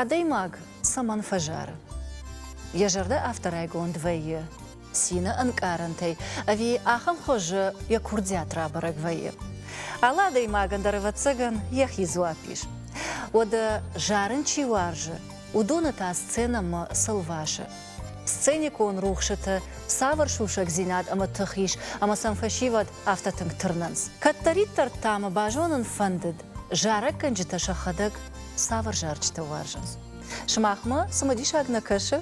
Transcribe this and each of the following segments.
Адӕймаг цӕмӕн фӕзары? Йӕ зӕрдӕ афтӕ райгонд вӕййы, цины ӕнкъарӕнтӕй ӕви ахӕм хуызы йӕ курдиат рабӕрӕг вӕййы? Алы адӕймагӕн дӕр, ӕвӕццӕгӕн, йӕхи дзуапп ис. Уӕдӕ зарын чи уарзы, уыдоны та сценӕмӕ цы лвасы? Сценикон рухсыты цавӕр сусӕгдзинад ӕмӕ тых ис, ӕмӕ сӕм фӕсивӕд афтӕ тынг тырнынц? Кӕддӕриддӕр та мӕ базонын фӕндыд, Зарӕггӕнджытӕ сӕхӕдӕг цавӕр зарджытӕ уарзынц? Сымахмӕ цымыдисаг нӕ кӕсы?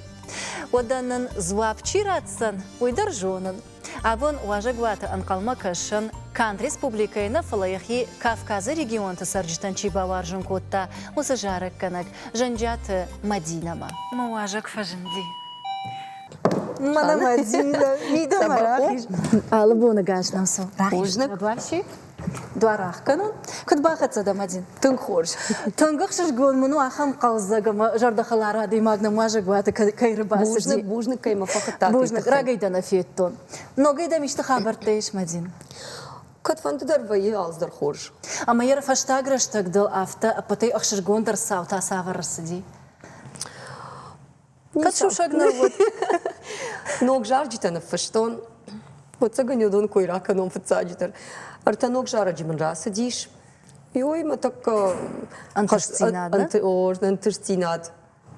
Уӕдӕ нын дзуапп чи ратдзӕн, уый дӕр зонын. Абон уазӕгуаты ӕнхъӕлмӕ кӕсӕн канд республикӕйы нӕ, фӕлӕ йӕхи Кавказы регионты цӕрджытӕн чи бауарзын кодта, уыцы зарӕггӕнӕг Зӕнджиаты Мадинӕмӕ. Мӕ уазӕг фӕзынди. Мӕнӕ Мадинӕ мидӕмӕ рахиз. Алы боны гӕс нӕм цы рахиз бузныг. дуар ӕхгӕнон. Куыд бахӕццӕ дӕм, один? Тынг хорз. Тынг ӕхсызгон мын у ахӕм хъӕлдзӕг ӕмӕ зӕрдӕхӕлар адӕймаг нӕмуазӕгуаты кӕй ӕрбацыди. Бузныг кӕй мӕ фӕхуыдта. Бузныг, рагӕй дӕ нӕ федтон. Ногӕй дӕм исты хабӕрттӕ ис, Мадин? Кӕдфӕндыдӕр вӕййы алдӕр хорз. Ӕмӕ йӕ фӕстаг рӕстӕг дыл афтӕ ӕппӕтӕй ӕхсызгондӕр цау та цавӕр ӕрцыди? Кӕд сусӕг нал уыд. Ног зарджытӕ ныффыстон. Ӕцӕгӕн уыдон кой ракӕнон фыццаджыдӕр. Ӕртӕ ног зарӕджы мын рацыдис. Ой, мӕ тӕккӕ ӕнтыстдзинад, ӕнтыстдзинад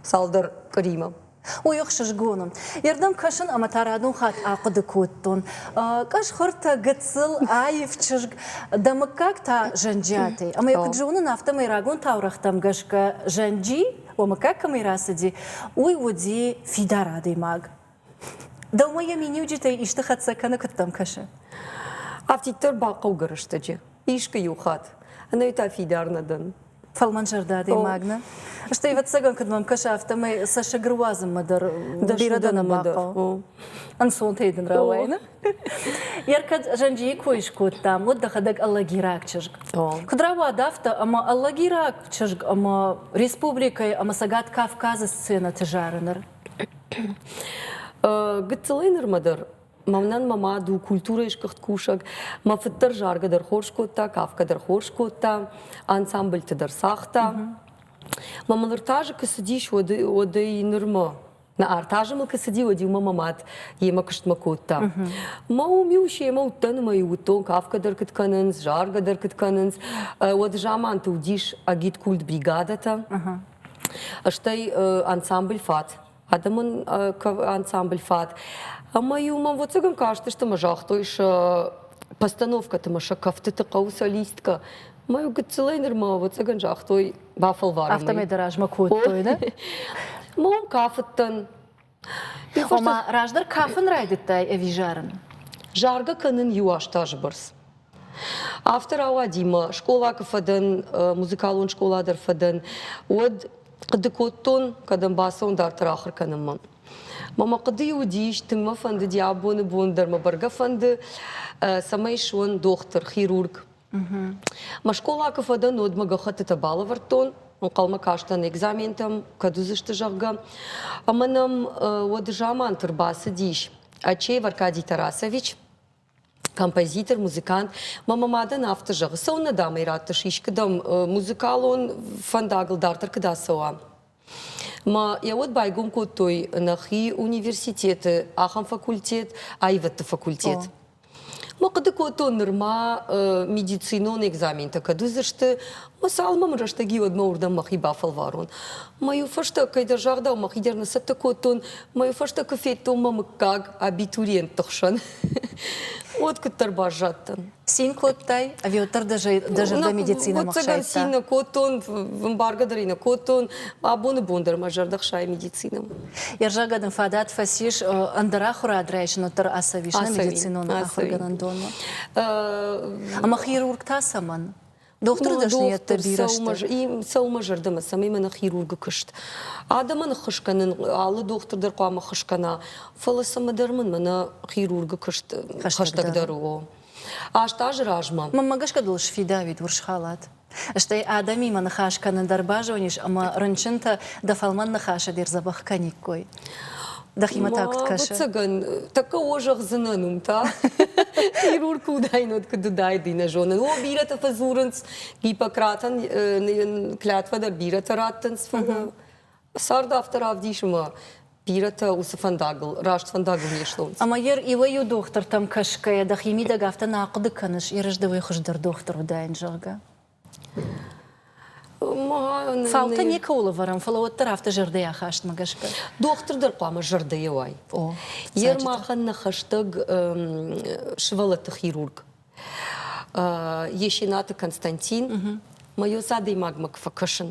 цалдӕр къыримӕ. Ой, ӕхсызгоны. Ирдӕм кӕсын ӕмӕ та радон хатт ахъуыды кодтон. Къӕсхуыртӕ, гыццыл, аив чызг, дӕ мыггаг та, Зӕнджиатӕй. Ӕмӕ йӕ куыд зонын, афтӕмӕй рагон таурӕгътӕм гӕсгӕ Зӕнджи Ома, как ӕмӕ рацыди, уый уыди фидар адӕймаг. Дӕумӕ йӕ миниуджытӕй исты хӕццӕ кӕны, куыд дӕм кӕсы? Афтиддӕр бахъӕугӕ рӕстӕджы. Искы иу хатт. Ӕнӕ та фидар нӕ дӕн. Фӕлмӕнзӕрдӕ адӕймаг нӕ? Стӕй, ӕвӕццӕгӕн, куыд мӕм кӕсы, афтӕмӕй цӕссыг руадзынмӕ дӕр бирӕ дӕ нӕ бахъӕуы. Ӕнцонтӕй дын рауайыны? Йер кӕд зӕнджийы кой скодтам, уӕд дӕхӕдӕг аллагираг чызг. Куыд рауад афтӕ, ӕмӕ аллагираг чызг ӕмӕ республикӕйы ӕмӕ Цӕгат Кавказы сценӕты зары ныр? Гыццылӕй нырмӕ дӕр мӕнӕн мӕ мад у культурӕйы сгуыхт кусӕг, мӕ фыд дӕр заргӕ дӕр хорз кодта, кафгӕ дӕр хорз кодта, ансамбльты дӕр цагъта. Мӕ мын ныр та азы куы цыдис, уӕдӕй нырмӕ Нӕ ӕртӕ азы мыл куы цыди, уӕд-иу мӕ мад йемӕ куыстмӕ кодта. Мӕ уым-иу семӕ уыдтӕн ӕмӕ-иу уыдтон кафгӕ дӕр куыд кӕнынц, заргӕ дӕр куыд кӕнынц. Уӕд заманты уыдис агиткульт бригадӕтӕ, стӕй ансамбль фат адӕмон ансамбль фат. Ӕмӕ-иу мӕм вӕццӕгӕн кастысты ӕмӕ загътой сӕ постановкӕты ӕмӕ сӕ кӕфтыты хъӕуы солисткӕ Мӕ гыццылӕй нырма, ӕвӕццӕгӕн, загътой, бафӕлварӕм. Афтӕмӕй дӕ размӕ кодтой, да? Мон кафыдтӕн. Ома, раздӕр кафын райдыдтай ӕви зарын? Заргӕ кӕнын иу аст азы бӕрц. Афтӕ рауади мӕ скъола куы фӕдӕн, музыкалон скъола дӕр фӕдӕн, уӕд хъуыды кодтон, кӕдӕм бацӕуын дарддӕр ахуыр кӕнынмӕ. Мӕ мӕ хъуыдыйы уыдис, тынг мӕ фӕндыди абоны бон дӕр мӕ бӕргӕ фӕнды, цӕмӕй суон дохтыр, хирург. Мӕ скъола куы фӕдӕн, уӕд мӕ гӕххӕттытӕ балӕвӕрдтон, Ӕнхъӕлмӕ кастӕн экзаментӕм, кӕд уыдзысты, зӕгъгӕ. Ӕмӕ нӕм уӕд заманты рбацыдис Ачеев Аркадий Тарасович, композитор, музыкант. Мӕ мадӕн афтӕ зӕгъы, цӕуыннӕ, дам ӕй раттыс, искӕдӕм музыкалон фӕндагыл дарддӕр куыд ацӕуа? Ма йӕ уӕд байгом кодтой нӕхи университеты ахӕм факультет, аивӕдты факультет. О. Ма хъуыды кодтон нырма э, медицинон экзаментӕ кӕд уыдзысты, ма сӕ алмамы рӕстӕг-иу уӕдмӕ уырдӕм мӕхи бафӕлварон. Ма-иу фӕстӕ, кӕйдӕр загъдау, мӕхи дӕр ныцӕттӕ кодтон, ма-иу фӕстӕ куы федтон мӕ мыггаг абитуриентты хсӕн, уӕд куыддӕр баззадтӕн. Цин кодтай? Ӕви уӕддӕр дӕ, дӕ зӕрдӕ медицинӕмӕ хсайдта? цин кодтон, ӕмбаргӕ дӕр ын кодтон. Абоны бон дӕр мӕ зӕрдӕ хсайы медицинӕмӕ. Ерзагӕн ын фадат фӕцис ӕндӕр ахуырад райсыныл дӕр ацӕуис, нӕ медицинон ахуыргӕнӕндонмӕ? Ӕмӕ хирург та цӕмӕн? Дохтыры дӕсныйӕдты бирӕ сты. Сӕумӕ зӕрдӕмӕ, цӕмӕй мӕнӕ хирургы куыст. Адӕмӕн ӕххуыс кӕнын, алы дохтыр дӕр хъуамӕ ӕххуыс кӕна, фӕлӕ цӕмӕдӕр мын мӕнӕ хирургы куыст хӕстӕгдӕр у. Аст азы размӕ. Мӕнмӕ гӕсгӕ дыл сфидауид урс халат. Стӕй адӕмимӕ ныхас кӕнын дӕр базонис ӕмӕ рынчынтӕ дӕ фӕлмӕн ныхасы де рдзӕбӕх кӕниккой. Дӕхимӕ та куыд кӕсы? Ӕцӕгӕн, тӕккӕ о зӕгъдзынӕн уым та. Хирург куы уыдаин, уӕд куыд уыдаид, нӕ зонын. О, бирӕтӕ фӕдзурынц, Гиппократӕн клятвӕ дӕр бирӕтӕ раттынц фӕдыл. Цард афтӕ равдисы ма бирӕтӕ уыцы фӕндагыл, раст фӕндагыл не слонц. Ӕмӕ йӕ иуӕй-иу дохтыртӕм кӕсгӕйӕ дӕхи мидӕг афтӕ нӕ ахъуыды кӕныс, Ерысды уый хуыздӕр дохтыр уыдаин, зӕгъгӕ? Цаутӕ никӕуыл ӕвӕрӕм, фӕлӕ уӕддӕр афтӕ зӕрдӕйы ахастмӕ гӕсгӕ. Дохтыр дӕр хъуамӕ зӕрдӕйӕ уай. Йе рмахӕн нӕ хӕстӕг сывӕллӕтты хирург Есенаты Константин мӕ ус адӕймагмӕ куы фӕкӕсын,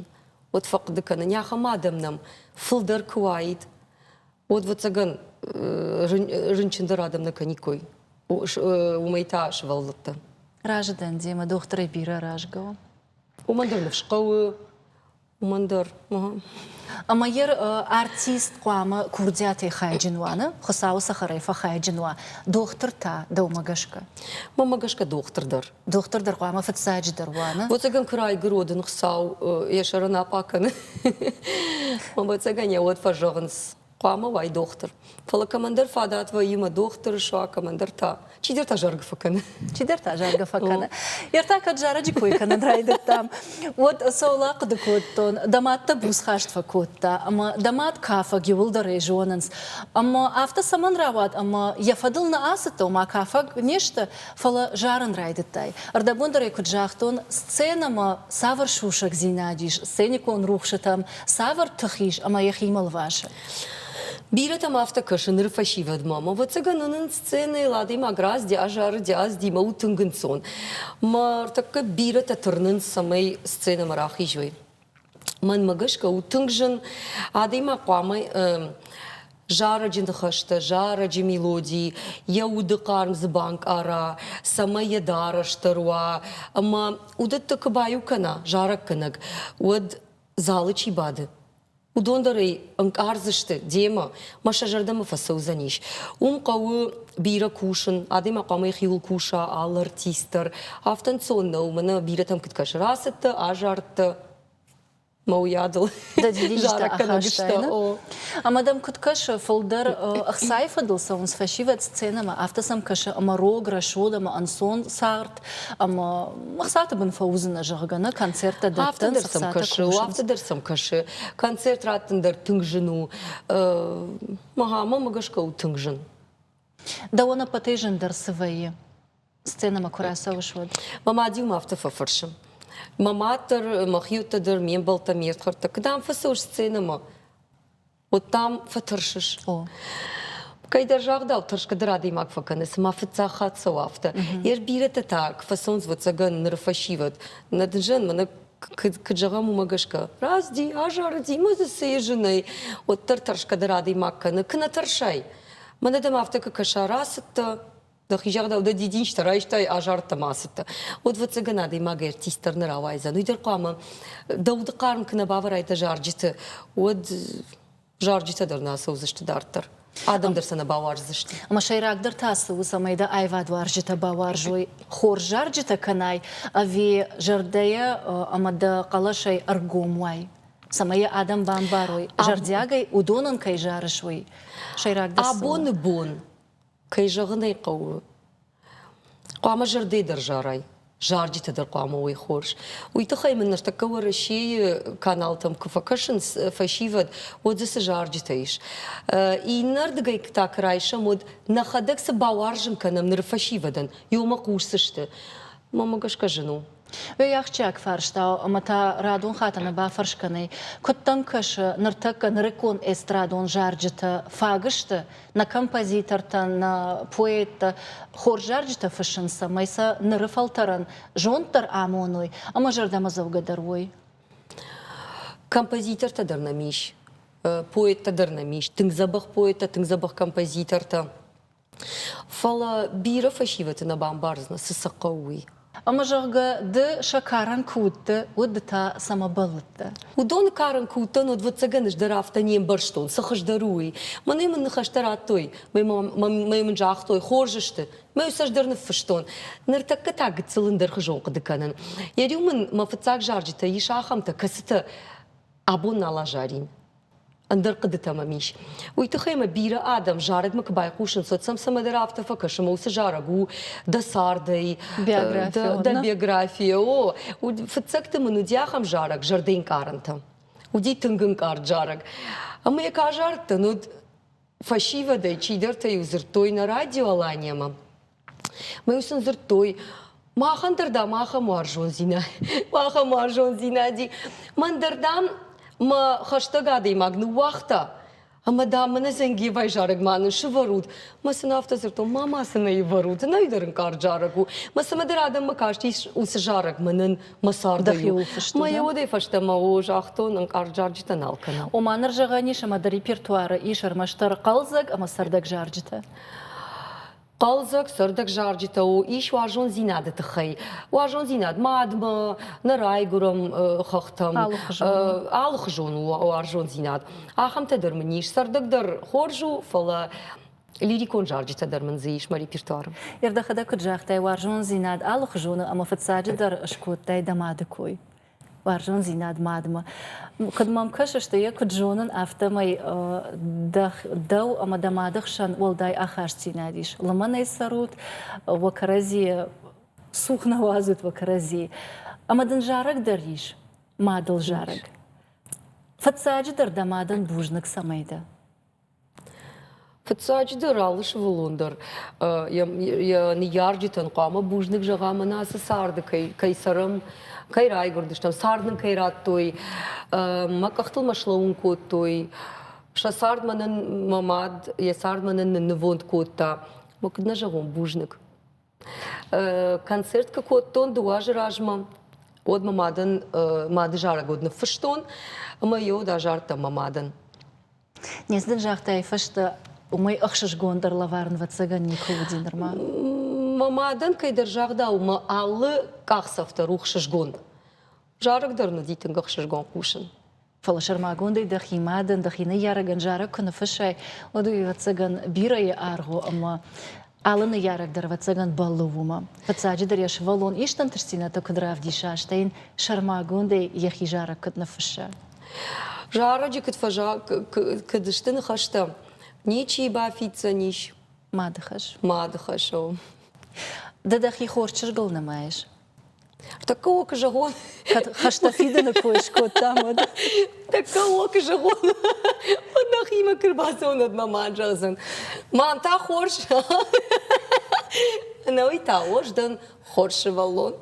уӕд фӕхъуыды кӕнын, ахӕм адӕм нӕм фылдӕр куы уаид, Уод вӕццӕгӕн рынчындӕр адӕм нӕ кӕниккой. Уымӕй та сывӕллӕттӕ. Разы дӕн демӕ дохтырӕй бирӕ рӕзгӕ у. Уымӕн дӕр ныфс хъӕуы, уымӕн дӕр. Ӕмӕ йер артист хъуамӕ курдиатӕй хайджын уа, нӕ? Хуыцауы цӕхӕрӕй фӕхайджын уа дохтыр та, дӕумӕ гӕсгӕ? Мӕнмӕ гӕсгӕ дохтыр дӕр Дохтыр дӕр хъуамӕ фыццаджыдӕр уа, Ӕвӕццӕгӕн куы райгуырод ын Хуыцау йӕ сӕрӕн апъа кӕны. Ӕвӕццӕгӕн йӕ уӕд фӕзӕгъынц, хъуамӕ уай дохтыр. Фӕлӕ кӕмӕндӕр фӕдад вӕййы мӕ дохтыр, суа кӕмӕндӕр та чидӕр та заргӕ фӕкӕны. Чидӕр та заргӕ фӕкӕны. Йе ртӕ кӕд зарӕджы кой кӕнын райдыдтам, уӕд цӕуыл ахъуыды кодтон, дӕ мад дӕ буцхаст фӕкодта ӕмӕ дӕ мад кафӕг иуылдӕрӕй зонынц. Ӕмӕ афтӕ цӕмӕн рауад ӕмӕ йӕ фӕдыл нӕ ацыдтӕ, ома кафӕг не сты, фӕлӕ зарын райдыдтай. Ӕрдӕбондӕрӕй куыд загътон, сценӕмӕ цавӕр сусӕгдзинад ис сценикон рухсытӕм, цавӕр тых ис ӕмӕ йӕхимӕ лвасы? Бирӕтӕм афтӕ кӕсы ныры фӕсивӕдмӕ. Ӕмӕ, ӕвӕццӕгӕн, уынын сценӕйыл адӕймаг раздӕ азары диаздимӕ у тынг ӕнцон. Мӕ ӕртӕккӕ бирӕтӕ тырнынц, цӕмӕй сценӕмӕ рахизой. Мӕнмӕ гӕсгӕ у тынг зын адӕймаг хъуамӕ зарӕджы ныхӕстӕ, зарӕджы мелоди йӕ уды хъарм дзы банкъара, цӕмӕй йӕ дарӕстӕр уа. Ӕмӕ уыдӕтты куы баиу кӕна зарӕггӕнӕг, уӕд залы чи бады, уыдон дӕр ӕй ӕнкъардзысты демӕ, мӕ сӕ зӕрдӕмӕ фӕцӕудзӕнис. Уым хъӕуы бирӕ кусын, адӕймаг хъуамӕ йӕхиуыл куса, алы артист дӕр. Афтӕ ӕнцон нӕу, мӕнӕ бирӕтӕм куыд кӕсы, рацыдтӕ, азардтӕ, мӕ уыйадыл зарӕг кӕнӕг сты. Ӕмӕ дӕм куыд кӕсы, фылдӕр ӕхцайы фӕдыл цӕуынц фӕсивӕд сценӕмӕ, афтӕ сӕм кӕсы ӕмӕ рог, рӕсугъд ӕмӕ ӕнцон цагъд, ӕмӕ ӕхцаты бын фӕуыдзынӕ зӕгъгӕ нӕ концерттӕ дӕттын сӕм кӕсы афтӕ дӕр сӕм кӕсы концерт раттын дӕр тынг зын у мӕгъамӕ гӕсгӕ у тынг зын дӕуӕн ӕппӕтӕй зындӕр цы вӕййы сценӕмӕ куы рацӕуыс уӕд мӕ мад-иу афтӕ фӕфӕрсы мӕ мад дӕр мӕ хиуттӕ дӕр ме мбӕлттӕ ме рдхӕрдтӕ куыд ам фӕцӕуыс сценӕмӕ Уыдтам фӕтырсыс. О. Кӕйдӕр загъдау тӕрсгӕдӕр адӕймаг фӕкӕны, цыма фыццаг хатт цӕуы афтӕ. Йӕ бирӕтӕ та кфӕцӕнц вӕццӕгӕн ныры фӕсивӕд. Нӕ дызӕн мӕнӕ куыд, куыд зӕгъӕм, уымӕ гӕсгӕ. Разди, азарыди, ма дзы цы и зынӕй. Уӕддӕр тӕрсгӕдӕр адӕймаг кӕны. Куы нӕ тӕрсай. Мӕнӕ дӕм афтӕ куы кӕса, рацыдтӕ, Дӕхи зӕгъдау, дӕ дидинджытӕ райстай, азарттӕ ма ацыдтӕ. Уӕд фыццагӕн адӕймагӕй артист дӕр нӕ рауайдзӕн. Уый дӕр хъуамӕ дӕ уды хъарм куы нӕ бавӕрай дӕ зарджыты, уӕд зарджытӕ дӕр нӕ ацӕудзысты дарддӕр. Адӕм дӕр сӕ нӕ бауарздзысты. Ӕмӕ сӕйрагдӕр та цы у, цӕмӕй дӕ аивадуарзджытӕ бауарзой хорз зарджытӕ кӕнай ӕви зӕрдӕйӕ ӕмӕ дӕ хъӕлӕсӕй ӕргом уай, цӕмӕй йӕ адӕм бамбарой, зӕрдиагӕй уыдон ын кӕй зарыс, уый. Сӕйрагдӕр цы у? Абоны бон Кӕй зӕгъын ӕй хъӕуы, хъуамӕ зӕрдӕ дӕр зарай, зарджытӕ дӕр хъуамӕ уой хорз. Уый тыххӕй мын ныртӕккӕ Уӕрӕсейы каналтӕм куы фӕкӕсынц фӕсивӕд, уӕд дзы цы зарджытӕ ис. Иннӕрдыгӕй та куы райсӕм, уӕд нӕхӕдӕг цы бауарзын кӕнӕм ныры фӕсивӕдӕн, ёмӕ хъусдзысты. Мамӕ гӕсгӕ зын у. Уый ахсджиаг фарста у ӕмӕ та радон хатӕны бафӕрс кӕнӕй, куыд дӕм кӕсы, ныртӕккӕ нырыккон эстрадон зарджытӕ фаг сты нӕ композитортӕн, нӕ поэттӕ хорз зарджытӕ фыссынц, цӕмӕй сӕ ныры фӕлтӕрӕн зонд дӕр амоной ӕмӕ зӕрдӕмӕдзӕугӕ дӕр уой? Композитортӕ дӕр нӕм ис, поэттӕ дӕр нӕм ис, тынг дзӕбӕх поэттӕ, тынг дзӕбӕх композитортӕ. Фӕлӕ бирӕ фӕсивӕды нӕ бамбардзынӕ, цы сӕ хъӕуы, уый. Ӕмӕ, зӕгъгӕ, ды сӕ карын куы уыдтӕ, уӕд ды та цӕмӕ бӕллыдтӕ? Уыдоны карын куы уыдтӕн, уӕд, ӕвӕццӕгӕн, ӕз дӕр афтӕ не мбӕрстон, цы хуыздӕр у, уый. Мӕнӕ мын ныхӕстӕ радтой, мӕ мын загътой, хорз сты. Мӕ ус ӕз дӕр ныффыстон. Ныртӕккӕ та гыццыл ӕндӕрхуызон хъуыды кӕнын. Йӕ риу мын мӕ фыццаг зарджытӕ ис ахӕмтӕ, кӕцытӕ абон нал азарин. ӕндӕр хъыдытӕ мӕм ис. Уый тыххӕй ӕмӕ бирӕ адӕм зарӕгмӕ куы байхъусынц, уӕд сӕм цӕмӕдӕр афтӕ фӕкӕсы, мӕ уыцы зарӕг у дӕ цардӕй, биография, дӕ, дӕ биография, о, фыццӕгты мын уыди ахӕм зарӕг зӕрдӕнкъарӕнтӕ. Уыди тынг ӕнкъард зарӕг. Ӕмӕ йӕ кӕ азардтӕн уыд фӕсивӕдӕй чидӕртӕ-иу дзырдтой нӕ радио Алания-мӕ, Мӕ сын дзырдтой, махӕн дӕр, дам, ахӕм уарзондзинад, ахӕм уарзондзинади. Мӕн дӕр, дам, мӕ хӕстӕг адӕймаг ныууагъта, ӕмӕ, дам, мӕнӕ Зенгиевайы зарӕгмӕ нын сывӕрут. Мӕ сын афтӕ дзырдтон, ма ма сын ӕй ӕвӕрут, ӕнӕ дӕр ын кард зарӕг у. Мӕ цымӕдӕр адӕммӕ кастис уыцы зарӕгмӕ нын мӕ цардӕй. Мӕ йӕ уӕдӕй фӕстӕмӕ о загътон ӕнкъард зарджытӕн алкӕнӕм. Ома ныр зӕгъӕн ис, ӕмӕ дӕ репертуары ис ӕрмӕстдӕр хъӕлдзӕг ӕмӕ цӕрдӕг зарджытӕ. Хъӕлдзӕг сӕрдӕг зарджытӕ у ис уарзондзинады тыххӕй. Уарзондзинад мадмӕ, нӕ райгуырӕн хӕхтӕм, алыхуызон у уарзондзинад. Ахӕмтӕ дӕр мын ис. Сӕрдӕг дӕр хорз у, фӕлӕ лирикон зарджытӕ дӕр мын дзы ис мӕ репертуары. Ӕрдӕхӕдӕг куыд загътай, уарзондзинад алыхуызоны ӕмӕ фыццаджыдӕр скодтай дӕ мады кой. уарзондзинад мадмӕ. Куыд мӕм кӕсыс, ды йӕ куыд зонын, афтӕмӕй дӕу ӕмӕ дӕ мады хсӕн уӕлдай ахастдзинад ис. Лымӕнӕй цӕрут, уӕ кӕрӕдзийы цух нӕ уадзут уӕ кӕрӕдзи. Ӕмӕ дын зарӕг дӕр ис, мадыл зарӕг. Фыццаджыдӕр дӕ мадӕн бузныг цӕмӕй дӕ. Фыццаджыдӕр, алы сывӕллон дӕр йӕ ныййарджытӕн хъуамӕ бузныг зӕгъӕм ӕмӕ ацы царды кӕй цӕрӕм, кӕй райгуырдыстӕм, цард нын кӕй радтой, мӕ къӕхтыл мӕ слӕууын кодтой, сӕ цардмӕ нын мӕ мад йӕ цардмӕ нын нывонд кодта. Мӕ куыд нӕ зӕгъон бузныг. Концерт куы кодтон дыууӕ азы размӕ, уӕд мӕ мадӕн мады зарӕг уыд ныффыстон ӕмӕ йӕ уд азардтӕн мӕ мадӕн. Не дын загътай фӕстӕ, уымӕй ӕхсызгон дӕр лӕварын вӕццӕгӕн никуы уыди нырма. Мӕ мадӕн кӕйдӕр загъдау мӕ алы къахдзӕфтӕ рухсызгонд. Зарӕг дӕр нуди тынг ӕхсызгон хъусын. Фӕлӕ сӕрмагондӕй дӕхи мадӕн, дӕхи ныййарӕгӕн зарӕг куы ныффыссай, уӕд уый ӕвӕццӕгӕн бирӕйы аргъ у ӕмӕ алы ныййарӕг дӕр ӕвӕццӕгӕн бӕллы уымӕ. Фыццаджыдӕр йӕ сывӕллон ист ӕнтыстдзинӕдтӕ куыд равдиса, стӕй йын сӕрмагондӕй йӕхи зарӕг куыд ныффысса? Зарӕджы куыд, фӕза... куыд сты ныхӕстӕ? Ничи бафиддзӕн ис. Мады хӕс. Мады хӕс у. Ды дӕхи хорз чызгыл нымайыс. Тӕккӕ о куы зӕгъон, кӕд хӕстӕ фидыны кой скодтам, уӕд. Тӕккӕ о куы зӕгъон, уӕд нӕхимӕ куы рбацӕуынӕд мӕ мад зӕгъдзӕн. Мӕн та хорз. Ӕнӕуый та хорз дӕн, хорз сывӕллон.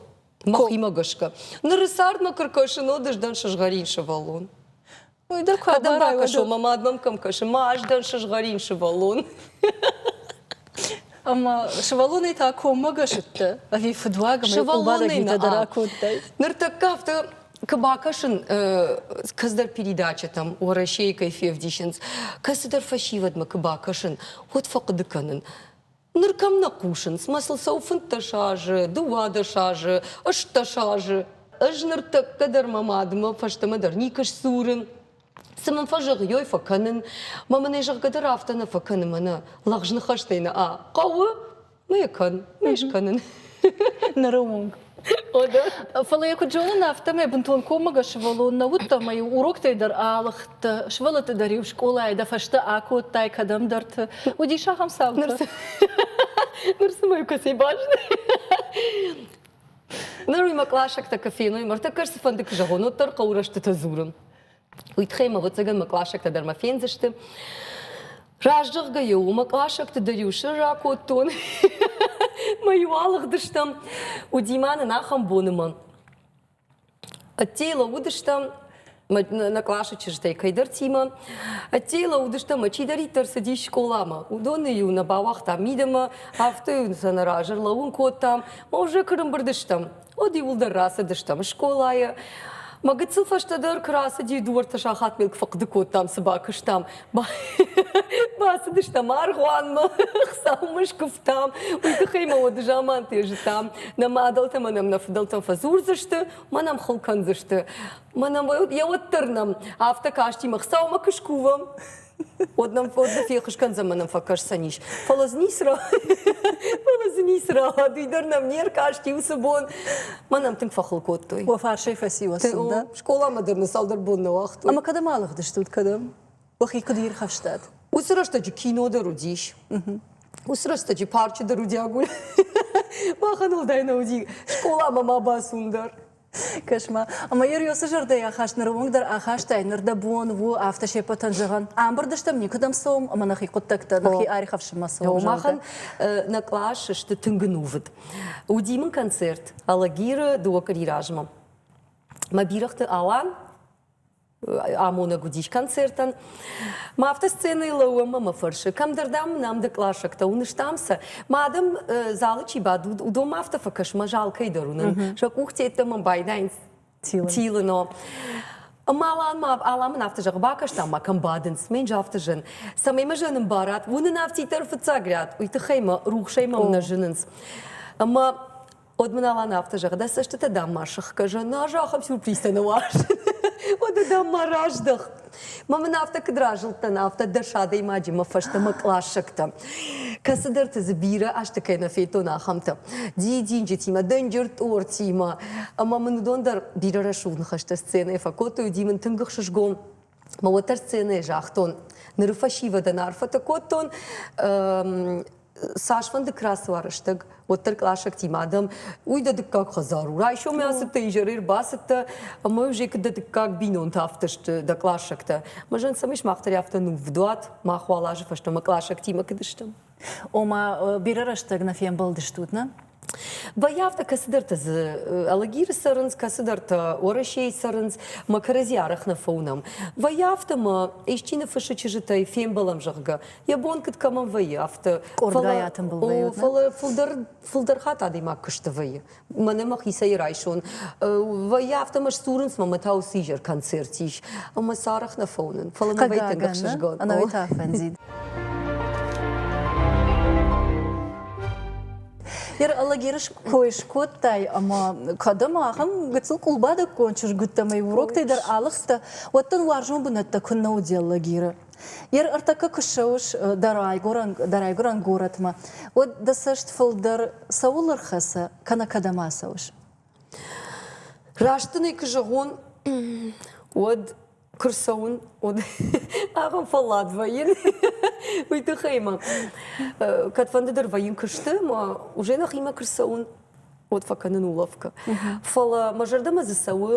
Мӕхимӕ гӕсгӕ. Ныры цардмӕ куы ркӕсын, уӕд ӕз дӕн сызгъӕрин сывӕллон. Уый дӕр куы Кӕдӕм ракӕсон, мӕ мад мӕм кӕм кӕсы? Ма ӕз дӕн сызгъӕрин сывӕллон. Ӕмӕ сывӕллонӕй та коммӕгӕсыдтӕ ӕви фыдуаг ӕмӕ къулбадӕг дӕ ракодтай? Ныртӕккӕ афтӕ куы бакӕсын кӕцыдӕр передачӕтӕм Уӕрӕсейы кӕй февдисынц, кӕцыдӕр фӕсивӕдмӕ куы бакӕсын, уӕд фӕхъуыды кӕнын, Ныр кӕм нӕ хъусынц, мӕ сыл сау фынддӕс азы, дыууадӕс азы, ыстдӕс азы. Ӕз ныртӕккӕ дӕр мӕ мадмӕ фӕстӕмӕ дӕр никӕй сдзурын. Цы мын фӕзӕгъыйой, фӕкӕнын. Мӕ мын ӕй зӕгъгӕ дӕр афтӕ нӕ фӕкӕны мӕнӕ. Лӕгъз ныхӕстӕй нӕ а хъӕуы, мӕ йӕ кӕн, мӕ йӕ скӕнын. Ныры онг Фӕлӕ йӕ куыд зонын, афтӕмӕй бынтон коммӕгӕс сывӕллон нӕ уыд ӕмӕ-иу уроктӕй дӕр аалыгъдтӕ, сывӕллӕтты дӕр-иу скъолайы дӕ фӕстӕ акодтай кӕдӕмдӕрты. Уыдис ахӕм цаутӕ? Ныр цымӕ кӕцӕй бӕзны? Ныр уый мӕ къласӕгтӕ куы феной, ма ртӕккӕ цыфӕнды куы зӕгъон, уӕддӕр хъӕуы рӕстытӕ дзурын. уый тыххӕй мӕ ӕвӕццӕгӕн мӕ къласӕгтӕ дӕр мӕ фендзысты. Раздзӕгъгӕ-иу мӕ классӕгты дӕр-иу сыр ракодтон. Мӕ-иу алыгъдыстӕм. Удимӕ нын ахӕм бонымӕ. Ӕддейы лӕууыдыстӕм нӕ къласы чызджытӕй кӕйдӕртимӕ. Ӕддейы лӕууыдыстӕм, мӕ чидӕриддӕр цыдис скъоламӕ, уыдоны-иу нӕ бауагътам мидӕмӕ, афтӕ-иу сӕ нӕ раз ӕрлӕууын кодтам. Мӕ уже кырымбырд стӕм. Уӕд иуылдӕр рацыдыстӕм скъолайы. Мӕ гыццыл фӕстӕдӕр куы рацыди, дыууӕртӕ сахат мыл фӕхъуыды кодтам, цы бакуыстам. Бацыдыстӕм аргъуанмӕ, хсаумӕ скуывтам. Уый тыххӕй мӕ уды заманты зыдтам, нӕ мадӕлтӕ мӕнӕм нӕ фыдӕлтӕм фӕдзурдзысты, мӕнӕм хыл кӕндзысты. Мӕнӕ йӕ уӕддӕр нӕм афтӕ касти, мӕ хсаумӕ куы скувӕм, Уӕд нӕм уӕд нӕ фехъус кӕндзӕн мӕ нӕм фӕкӕсдзӕнис. Фӕлӕ дзы ницы ра... фӕлӕ дзы ницы рауад, уый дӕр нӕм не ркаст иу цы бон. Мӕ нӕм тынг фӕхыл кодтой. Уӕ фарсӕй фӕци уӕ сын, да? Скъоламӕ дӕр нын цалдӕр бон нӕ уагътой. Ӕмӕ кӕдӕм алыгъдыстут, кӕдӕм? Уӕхи куыд ирхӕфстат? Уыцы рӕстӕджы кино дӕр уыдис. Уыцы рӕстӕджы парчы дӕр уыди агуль. Махӕн уӕлдай нӕ уыди скъоламӕ ма бацуын дӕр. Кӕс-ма, ӕмӕ йӕ Риосы зӕрдӕйы ахаст ныры онг дӕр ахастай, ныр дӕ бон у афтӕ се ппӕтӕн зӕгъын, ӕмбырд стӕм, никуыдӕм цӕуӕм ӕмӕ нӕхи хъуыддӕгтӕ, нӕхи ӕрихӕфсынмӕ цӕуӕм. Махӕн нӕ кълас сты тынг ӕнувыд. Уыди мын концерт Алагиры дыууӕ къуыри размӕ. Мӕ бирӕгъты Алан амонӕг уыдис концертӕн. Ма афтӕ сценӕйы лӕууӕм ӕмӕ фӕрсы, кӕмдӕр, дам, нӕм ды классиктӕ уыныстам сӕ. Ма адӕм залы чи бад, уыдон афтӕ фӕкӕс, мӕ зал кӕйдӕр уынӕм. Сӕ къухтӕ мӕм байдайынц тилыно. Маланмӕ Аламӕн афтӕ зӕгъы, бакӕстам ма кӕм бадынц, ме нджафты зын. Цӕмӕй мӕ зӕнын барат, уынын афтиддӕр фыццаг рӕт, уый тыххӕй мӕ рухсӕй мӕм нӕ зынынц. Ӕмӕ Уӕд мын Алан афтӕ зӕгъы, дӕ цӕстытӕ дӕм ма сыхгӕ зӕн, ӕз ахӕм сюрпризтӕ нӕуазын. Уӕдӕ дӕм ма раздӕх. Мӕ мын афтӕ куыд разылдтӕн, афтӕ дӕс адӕймаджимӕ фӕстӕмӕ кълассӕгтӕ, кӕцыдӕрты дзы бирӕ азты кӕй нӕ федтон, ахӕмтӕ, дидинджытимӕ, дынджыр-тъортимӕ, ӕмӕ мын уыдон дӕр бирӕ рӕсугъд ныхӕстӕ сценӕйы фӕкодтой, уыди мын тынг ӕхсызгон. Мӕ уӕддӕр сценӕйы загътон, ныры фӕсивӕдӕн арфӕтӕ кодтон. Цасфӕнды къласы уа рӕстӕг, уӕддӕр къласӕгтимӕ адӕм, уый дӕ дыккаг хӕдзар у, райсомӕй ацыдтӕ, изӕрӕй ӕрбацыдтӕ, ӕмӕ Жекы дӕ дыккаг бинонтӕ афтӕ сты, дӕ къласӕгтӕ. Мӕ зӕн цӕмӕй сымах дӕр афтӕ ныввдуат, мах уал азы фӕстӕмӕ къласӕгтимӕ куыд стӕм. Ома, бирӕ рӕстӕг нӕ фембӕлдыстут, нӕ? Бояфта кӕцыдӕртӕ дзы Алагиры цӕрынц, кӕцыдӕртӕ Уӕрӕсейы цӕрынц, мӕ кӕрӕдзи арӕх нӕ фӕуынӕм. Вӕййы афтӕ, мӕ исчи ныффыссы чызджытӕй фембӕлӕм, зӕгъгӕ, йӕ бон куыд кӕмӕн вӕййы, афтӕ. Къордгай атымбыл вӕййут, фӕлӕ фылдӕр фылдӕр хатт адӕймаг куы сты, вӕййы. мӕнӕ мӕхицӕй райсон. Вӕййы афтӕ сдзурынц, мӕ тау сизӕр концерт ис, ӕмӕ сарӕх нӕ фӕуынын, фӕлӕ мӕ вӕййынг ӕхсызгон. Ӕнӕуый фӕндид. Ныр Алагиры кой скодтай ӕмӕ кӕдӕм ахӕм гыццыл къулбадӕггон чызгуттӕ ӕмӕ уроктӕй дӕр алыгъдтӕ, уӕд дын уарзон бынӕттӕ куыннӕ уыди Алагиры? Йер ӕртӕккӕ куы ссӕуыс дӕ райгуырӕн, дӕ райгуырӕн горӕтмӕ, уӕд дӕ цӕст фылдӕр цӕуыл ӕрхӕцӕ кӕнӕ кӕдӕм ацӕуыс? Раст дын ӕй куы зӕгъон, уӕд куы рцӕуын, уӕд ахӕм фӕллад вӕййын, уый тыххӕй мӕ кӕдфӕнды дӕр вӕййын куысты, мӕ уже нӕхимӕ куы рцӕуын, уӕд фӕкӕнын улӕфгӕ. Фӕлӕ мӕ зӕрдӕмӕ дзы цӕуы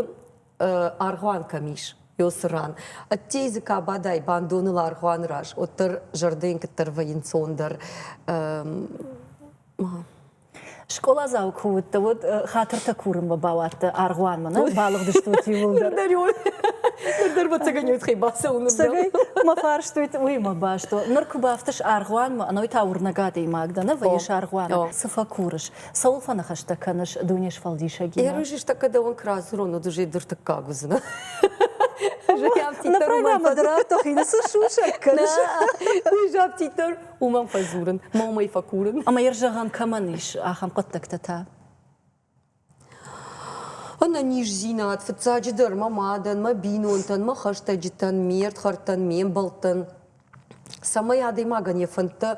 аргъуан кӕм ис, ёсы ран. Ӕддей дзы ка бадай бандоныл аргъуаны раз, уӕддӕр зӕрдӕйын куыддӕр вӕййынцондӕр. Скъоладзау куы уыдтӕ, уӕд хатыртӕ курынмӕ бауадтӕ аргъуанмӕ, нӕ? Балыгъдыстут иууылдӕр. Ныр йыл ныр дӕр бацагӕнӕуид хи бацӕуын. Сагӕй мӕ фарстуйт уыимӕ баст у. Ныр куы бафтыс аргъуанмӕ, ӕной та уырнӕг адӕймаг дӕ, нӕ вӕййыс аргъуаны, цы фӕкурыс? Цӕуыл фӕныхӕстӕ кӕныс Дунесфӕлдисӕгимӕ? Ӕрвысӕстӕг кӕдӕуӕн куы радзурон, уӕд уызӕй дыртыккаг уыдзынӕ. На программӕ дӕр афтӕ хины цы сусӕг кӕныс, уый же афтиддӕр уымӕн фӕдзурын, ма уымӕй фӕкурын. Ӕмӕ йӕ зӕгъӕн кӕмӕн ис, ахӕм хъуыддӕгтӕ та? Ӕнӕниздзинад, фыццаджыдӕр, мӕ мадӕн, мӕ бинонтӕн, мӕ хӕстӕджытӕн, ме рдхӕрдтӕн, ме мбӕлттӕн. Цӕмӕй адӕймагӕн йӕ фӕндтӕ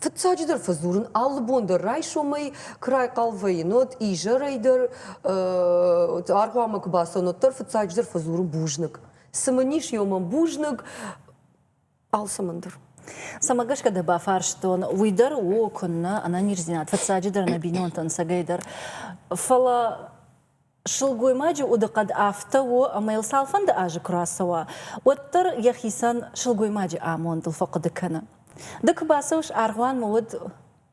Фыццаджыдӕр фӕдзурын алы бон дӕр райсомӕй куы райхъал вӕййын, уӕд изӕрӕй дӕр аргъуамӕ куы бацӕуын, уӕддӕр фыццаджыдӕр фӕдзурын бузныг. Цы мын ис, ё мӕм бузныг алцӕмӕн дӕр. Цӕмӕ гӕсгӕ дӕ бафарстон, уый дӕр у, куыннӕ, ӕнӕниздзинад фыццаджыдӕр нӕ бинонтӕн ӕцӕгӕйдӕр. Фӕлӕ Сылгоймаджы удыхъӕд афтӕ у, ӕмӕ йыл цалфӕнды азы куы рацӕуа, уӕддӕр йӕхицӕн сылгоймаджы амондыл фӕхъуыды кӕны. Ды куы бацӕуыс, аргъуанмӕ уӕд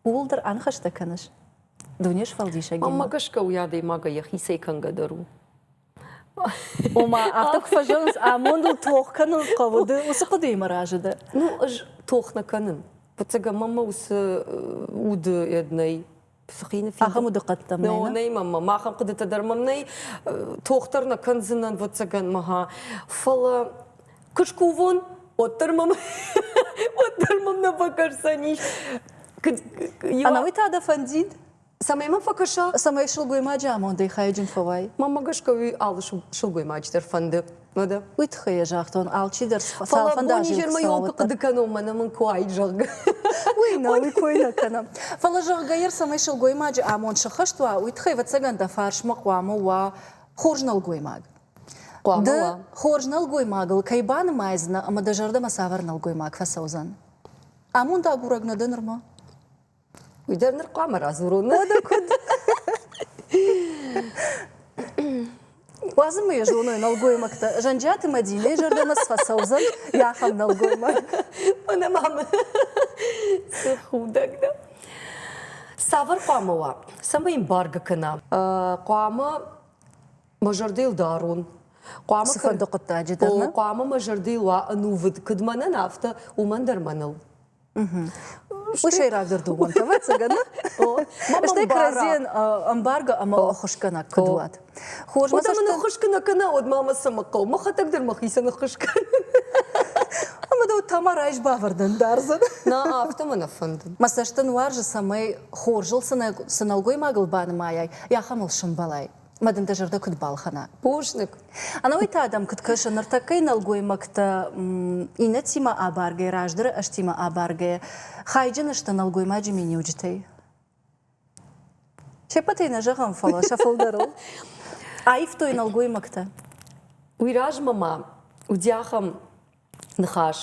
ууыл дӕр аныхӕстӕ кӕныс? Дунесфӕлдисӕгимӕ. Мӕнмӕ гӕсгӕ уый адӕймагӕй йӕхицӕй кӕнгӕ дӕр у. Ома, афтӕ куы фӕзӕгъынц, амондыл тох кӕнын хъӕуы, ды уыцы хъуыдыимӕ разы дӕ? Ну, ӕз тох нӕ кӕнын. Ӕвӕццӕгӕн, мӕнмӕ уыцы уды нӕй. ахӕм удыхъӕдтӕ мӕ мӕ махӕн хъуыдытӕ дӕр мӕм нӕй тохтӕр нӕ кӕндзынӕн вӕццӕгӕнмӕ ха фӕлӕ куы скувон уӕддӕр мӕм уӕддӕр мӕм нӕ фӕкӕсдзӕни ӕнӕуый та дӕ фӕндид цӕмӕй мӕ фӕкӕса цӕмӕй сылгоймаджы амондӕй хайджын фӕуай мӕнмӕ гӕсгӕ уый алы сылгоймаджы дӕр фӕнды Мадам. Уый тыххӕй йӕ загътон, алчидӕр цалфӕндаджы йыл куы хъуыды кӕнон, мӕнӕ мын куы уаид, зӕгъгӕ. Уый нӕ, уый кой нӕ кӕнӕм. Фӕлӕ, зӕгъгӕ, ир цӕмӕй сылгоймаджы амонд сыххӕст уа, уый тыххӕй, ӕвӕццӕгӕн, дӕ фарсмӕ хъуамӕ уа хорз нӕлгоймаг. Хъуамӕ ды уа. хорз нӕлгоймагыл кӕй банымайдзынӕ ӕмӕ дӕ зӕрдӕмӕ цавӕр нӕлгоймаг фӕцӕудзӕн? Амонд агурӕг нӕ дӕ нырма? Уый дӕр ныр хъуамӕ радзурон нӕдӕ куыд. Уадзын ма йӕ зоной нӕлгоймӕгтӕ. Зӕнджиаты Мадинӕйы зӕрдӕмӕ сфӕцӕудзӕн йӕ ахӕм нӕлгоймаг. Мӕнӕ ма мын худӕг дӕ. Цавӕр хъуамӕ уа? Цӕмӕй йын бӕргӕ кӕна? Хъуамӕ мӕ зӕрдӕйыл дарон. Хъуамӕ цыфӕнды хъуыддаджы дӕр хъуамӕ мӕ зӕрдӕйыл уа ӕнувыд, куыд мӕнӕн, афтӕ уымӕн дӕр мӕныл. Уый сӕйрагдӕр домӕнтӕ, ӕвӕццӕгӕн, стӕй кӕрӕдзийӕн ӕмбаргӕ ӕмӕ ӕххуысгӕнӕг куыд уат. Хорз мӕ цӕст ӕххуысгӕнӕг кӕнӕ уӕд ма мӕ цӕмӕ хъӕуы, мӕхӕдӕг дӕр мӕхицӕн ӕххуыс кӕнын. Ӕмӕ дӕ Тамарӕ айс бавӕрдӕн дардзӕн. Нӕ афтӕ мӕ нӕ фӕнды. Мӕ цӕст ын уарзы, цӕмӕй хорзыл цы нӕлгоймагыл банымайай, ахӕм ыл сӕмбӕлай. Мӕ дын дӕ зӕрдӕ куыд балхӕна? Бузныг. Ӕнӕуый та дӕм куыд кӕсы, ныртӕккӕйы нӕлгоймӕгтӕ иннӕтимӕ абаргӕйӕ, раздӕры ӕзтимӕ абаргӕйӕ, хайджын сты нӕлгоймаджы миниуджытӕй? Се ппӕтӕй нӕ зӕгъӕм, фӕлӕ сӕ фылдӕрыл аивтой нӕлгоймӕгтӕ. Уый размӕ ма уыди ахӕм Ныхас.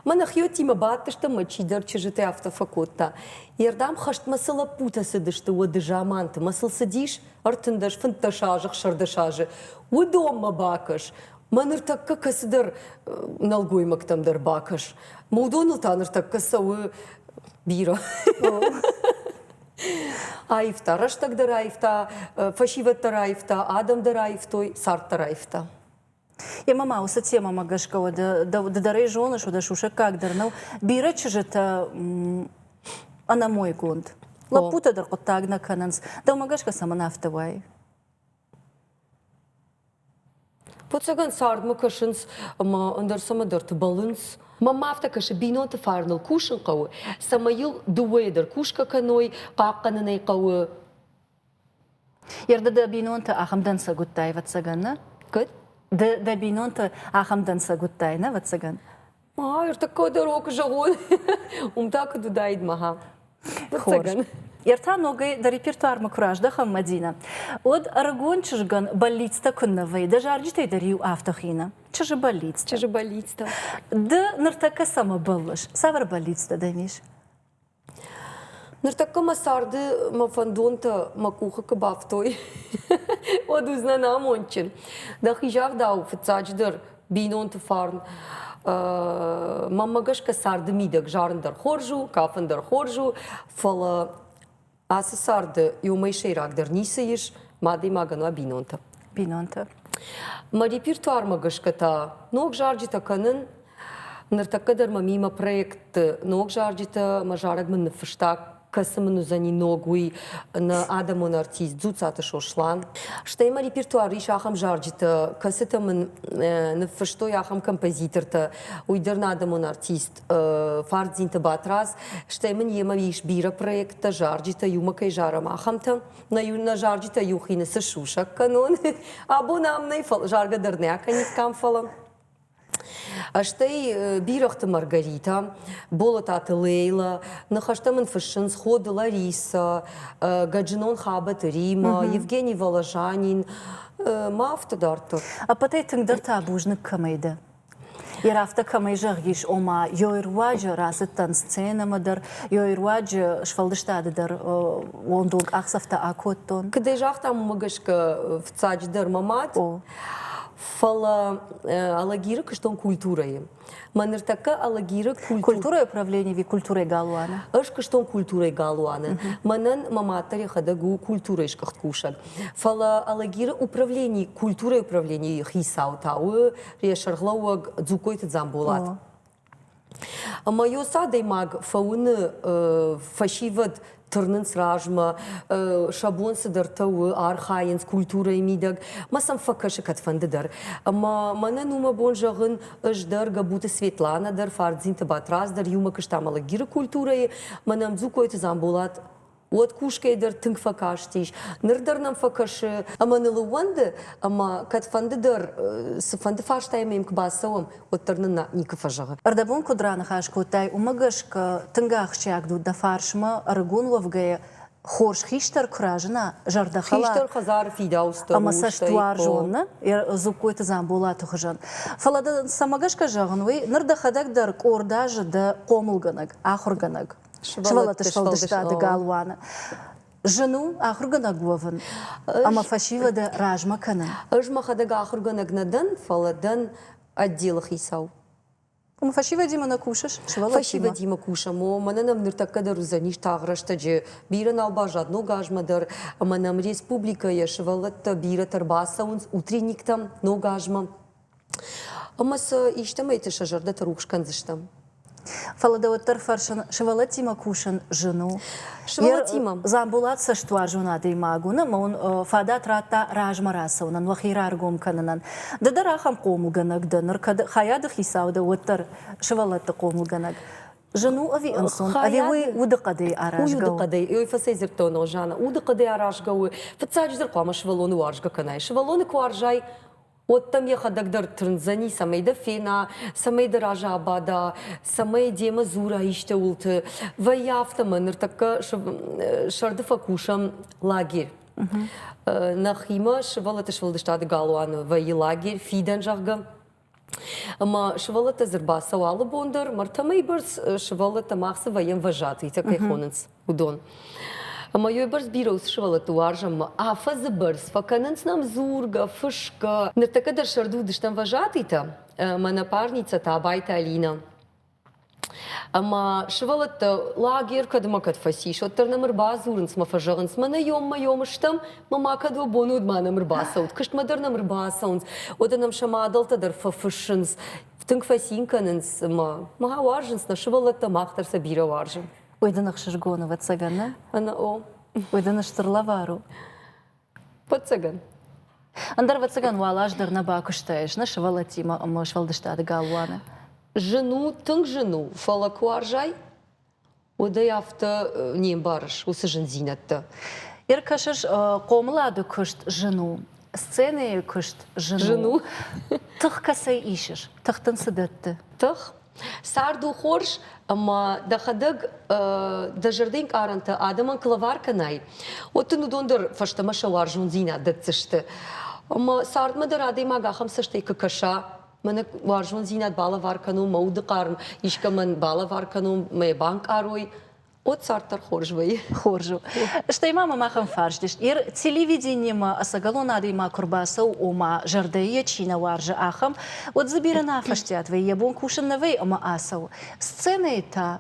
Мӕнӕ хиӕдтимӕ бадтыстӕм мӕ чидӕр чызджыты афтӕ фӕкодта. Йе рдӕм хӕстмӕ цы лӕппутӕ цыдысты уӕды заманты, мӕ сыл цыдис ӕртындӕс, фынддӕс азы, хсӕрдӕс азы, уыдонмӕ бакӕс. Мӕ ныртӕккӕ кӕцыдӕр э, нӕлгоймӕгтӕм дӕр бакӕс. Мӕ уыдоныл та ныртӕккӕ цӕуы бирӕ. Аивта, рӕстӕг дӕр аивта, э, фӕсивӕд дӕр аивта, адӕм дӕр аивтой, цард дӕр аивта. Емӕ ма уыцы темӕмӕ гӕсгӕ уӕдӕ ды дӕр ӕй зоныс, уӕдӕ сусӕггаг дӕр нӕу. Бирӕ чызджытӕ ӕнӕмойгонд. Лӕппутӕ дӕр хъуыддаг нӕ кӕнынц. Дӕумӕ гӕсгӕ цӕмӕн афтӕ уайы? Фыццагӕн цардмӕ кӕсынц ӕмӕ ӕндӕр цӕмӕдӕрты бӕлынц. Мӕн ма афтӕ кӕсы, бинонты фарныл кусын хъӕуы, цӕмӕй йыл дыууӕйӕ дӕр кусгӕ кӕной, хъахъхъӕнын ӕй хъӕуы. Ерды дӕ бинонты ахӕм дӕнцӕг уыдтай, ӕвӕццӕгӕн, нӕ? Куыд? Ды дӕ бинонты ахӕм дӕнцӕг уыдтай, нӕ, ӕвӕццӕгӕн? Ма, ӕртыккаг дӕр о, куы зӕгъон. уым та куыд уыдаид мӕхӕ. Ӕвӕццӕгӕн. Ӕртӕ ногӕй дӕ репертуармӕ куы раздӕхӕм, Мадинӕ, уӕд ӕрыгон чызгӕн бӕллицтӕ куыннӕ вӕййы, дӕ зарджытӕй дӕр-иу афтӕ хины. Чызджы бӕллицтӕ. Чызджы бӕллицтӕ. Ды ныртӕккӕ цӕмӕ бӕллыс? Цавӕр бӕллицтӕ дӕм ис? Ныртӕккӕ мӕ царды мӕ фӕндонтӕ мӕ къухы куы бафтой, уӕд уыдзынӕн амондджын. Дӕхи загъдау, фыццаджыдӕр, бинонты фарн. Мӕнмӕ гӕсгӕ царды мидӕг зарын дӕр хорз у, кафын дӕр хорз у, фӕлӕ ацы царды иумӕ сӕйрагдӕр ницы ис, мӕ адӕймагӕн уа бинонтӕ. Бинонтӕ. Мӕ репертуармӕ гӕсгӕ та ног зарджытӕ кӕнын Ныртӕккӕ дӕр мӕ мӕ проектты ног зарджытӕ мӕ зарӕг мын ныффыста, кӕцы мын уыдзӕни ног уый нӕ адӕмон артист Дзуцаты Сослан. Стӕй мӕ репертуар ис ахӕм зарджытӕ, кӕцытӕ мын ныффыстой ахӕм композитортӕ. Уый дӕр нӕ адӕмон артист Фардзинты Батрадз, стӕй мын йемӕ ис бирӕ проекттӕ, зарджытӕ, иумӕ кӕй зарӕм, ахӕмтӕ. Нӕ зарджытӕ иу хины цы сусӕг кӕнон, абон ам нӕй, заргӕ дӕр нӕ акӕнид кӕм, фӕлӕ Стӕй бирӕгъты Маргаритӕ, Болататы Лейлӕ, ныхӕстӕ мын фыссынц Ходы Ларисӕ, Гаджинон Хабӕты Римӕ, Евгений Воложанин, мӕ афтӕ дарддӕр. Ӕппӕтӕй тынгдӕр та бузныг кӕмӕй дӕ? Йӕ рафтӕ кӕмӕй зӕгъис, ома ёйы руаджы рацыдтӕн сценӕмӕ дӕр, ёйы руаджы сфӕлдыстады дӕр уондонг къахдзӕфтӕ акодтон. Куыд ӕй загътам, уымӕ гӕсгӕ фыццаджыдӕр мӕ мад. Фӕлӕ Алагиры куыстон культурӕйы. Мӕ ныртӕккӕ Алагиры культур... культурӕйы управленийы культурӕйы галуаны. Ӕз куыстон культурӕйы галуаны. Мӕнӕн мӕ мад дӕр йӕхӕдӕг у культурӕйы скъуыхт кусӕг. Фӕлӕ Алагиры управлени, культурӕйы управленийы хицау та у сӕргълӕууӕг Дзугкойты Дзамболат. Ӕмӕ-иу цы адӕймаг фӕуыны фӕсивӕд тырнынц размӕ, сӕ бон цыдӕртӕ у, архайынц культурӕйы мидӕг, ӕмӕ сӕм фӕкӕсы кӕдфӕнды дӕр. Ӕмӕ мӕнӕн у мӕ бон зӕгъын, ӕз дӕр, Гӕбуты Светланӕ дӕр, Фардзинты Батрадз дӕр иумӕ куыстам Алагиры культурӕйы, мӕнӕм Дзукойты Дзамболат уӕд кусгӕ дӕр тынг фӕкастис. Ныр дӕр нӕм фӕкӕсы ӕмӕ ныл ӕууӕнды, ӕмӕ кӕдфӕнды дӕр цыфӕнды фарстайы мӕм куы бацӕуӕм, уӕддӕр нын никуы фӕзӕгъы. Ӕрдӕбон куыд раныхас кодтай, уымӕ гӕсгӕ тынг ахсджиаг у дӕ фарсмӕ ӕрыгон уӕвгӕйӕ хорз хистӕр куы разына, зӕрдӕхӕлар хистӕр хӕдзары фидауцтӕ ӕмӕ цӕстуарзон нӕ Дзугкойты Дзамболаты хуызӕн. Фӕлӕ дын цӕмӕ гӕсгӕ зӕгъын уый, ныр дӕхӕдӕг дӕр къорд азы дӕ хъомылгӕнӕг, ахуыргӕнӕг. сывӕллӕтты сфӕлдыстады галуаны Зын у ахуыргӕнӕг уӕвын ӕмӕ фӕсивӕды размӕ кӕнын. Ӕз мӕхӕдӕг ахуыргӕнӕг нӕ дӕн, фӕлӕ дӕн отделы хицау. Уым фӕсивӕдимӕ нӕ кусыс? Сывӕллӕттимӕ? Фӕсивӕдимӕ кусӕм, о, мӕнӕ нӕм ныртӕккӕ дӕр уыдзӕнис тагъд рӕстӕджы бирӕ нал баззад ног азмӕ дӕр, ӕмӕ нӕм республикӕйӕ сывӕллӕттӕ бирӕтӕ ӕрбацӕуынц утренниктӕм ног азмӕ. Ӕмӕ сӕ истӕмӕйты сӕ зӕрдӕты рухс кӕндзыстӕм. Фӕлӕ дӕ уӕддӕр фӕрсын, сывӕллӕттимӕ кусын зын у? Сывӕллӕттимӕ? Дзамболат цӕстуарзон адӕймаг у, нӕ мӕ уын фадат радта размӕ рацӕуынӕн, уӕхи раргом кӕнынӕн. Ды дӕр ахӕм хъомылгӕнӕг дӕ, ныр кӕд хайады хицау дӕ, уӕддӕр сывӕллӕтты хъомылгӕнӕг. Зын у ӕви ӕнцон? Ӕви уый удыхъӕдӕй аразгӕ у? Удыхъӕдӕй. Ой, фӕцӕйдзырдтон, о, Жанна, удыхъӕдӕй аразгӕ у. Фыццаджыдӕр хъуамӕ сывӕллоны уарзгӕ кӕнай. Сывӕллоны куы уарзай, уӕд дӕм йӕхӕдӕг дӕр тырндзӕни, цӕмӕй дӕ фена, цӕмӕй дӕ разы абада, цӕмӕй демӕ дзура исты уылты. Вӕййы афтӕ мӕ ныртӕккӕ сӕрды фӕкусӕм лагерь. Нӕхимӕ сывӕллӕтты сфӕлдыстады галуаны вӕййы лагерь фидӕн, зӕгъгӕ. Ӕмӕ сывӕллӕттӕ дзы рбацӕуы алы бон дӕр, мартӕмӕй бӕрц сывӕллӕттӕ мах цы вӕййӕм вожатыйтӕ кӕй хонынц. уыдон. Ӕмӕ йой бӕрц бирӕ уыцы сывӕллӕтты уарзӕммӕ афӕдзы бӕрц фӕкӕнынц нӕм дзургӕ, фысгӕ. Ныртӕккӕ дӕр сӕрды уыдыстӕм вожатыйтӕ, мӕнӕ парница Табайты Алинӕ. Ӕмӕ сывӕллӕттӕ лагер кӕдмӕ кӕд фӕцис, уӕддӕр нӕм ӕрбадзурынц мӕ фӕзӕгъынц, мӕнӕ ём-мӕ-ём стӕм, мӕ ма кӕд уӕ бон уыд ма нӕм ӕрбацӕут, куыстмӕ дӕр нӕм ӕрбацӕуынц, уӕдӕ нӕм сӕ мадӕлтӕ дӕр фӕфыссынц, тынг фӕцин кӕнынц ӕмӕ ма уарзынц нӕ сывӕллӕттӕ, мах дӕр сӕ бирӕ уарзын. Ой, дын ӕхсызгон, ӕвӕццӕгӕн, нӕ? Ӕнӕ о. Ой, дын стыр лӕвар у. Ӕвӕццӕгӕн. Ӕндӕр ӕвӕццӕгӕн уал аз дӕр нӕ бакуыстаис, нӕ сывӕллӕттимӕ ӕмӕ сфӕлдыстады галуаны? Зын у, тынг зын у, фӕлӕ куы уарзай, уӕд ӕй афтӕ не мбарыс, уыцы зындзинӕдтӕ. Ӕркӕсыс, хъомылады куыст зын у, сценӕйы куыст зын, зын у. Тых кӕцӕй исыс? Тых дын цы дӕтты? Тых? Цард у хорз, ӕмӕ дӕхӕдӕг дӕ зӕрдӕ ӕнкъарӕнтӕ адӕмӕн куы лӕвар кӕнай, уӕд дын уыдон дӕр фӕстӕмӕ сӕ уарзондзинад дӕтдзысты. Ӕмӕ цардмӕ дӕр адӕймаг ахӕм цӕстӕй куы кӕса, мӕнӕ уарзондзинад балӕвар кӕнон, мӕ удыхъарм искӕмӕн балӕвар кӕнон, мӕ банкъарой, От царддӕр хорз вӕййы. Хорз у. Стӕй ма мӕ махӕн фарст ис. Ир телевиденимӕ ӕцӕгӕлон адӕймаг куы рбацӕуы, ома, зӕрдӕйы йӕ чи нӕ уарзы, ахӕм, уӕд дзы бирӕ нӕ афӕстиат вӕййы, йӕ бон кусын нӕ вӕййы ӕмӕ ацӕуы. Сценӕйы та,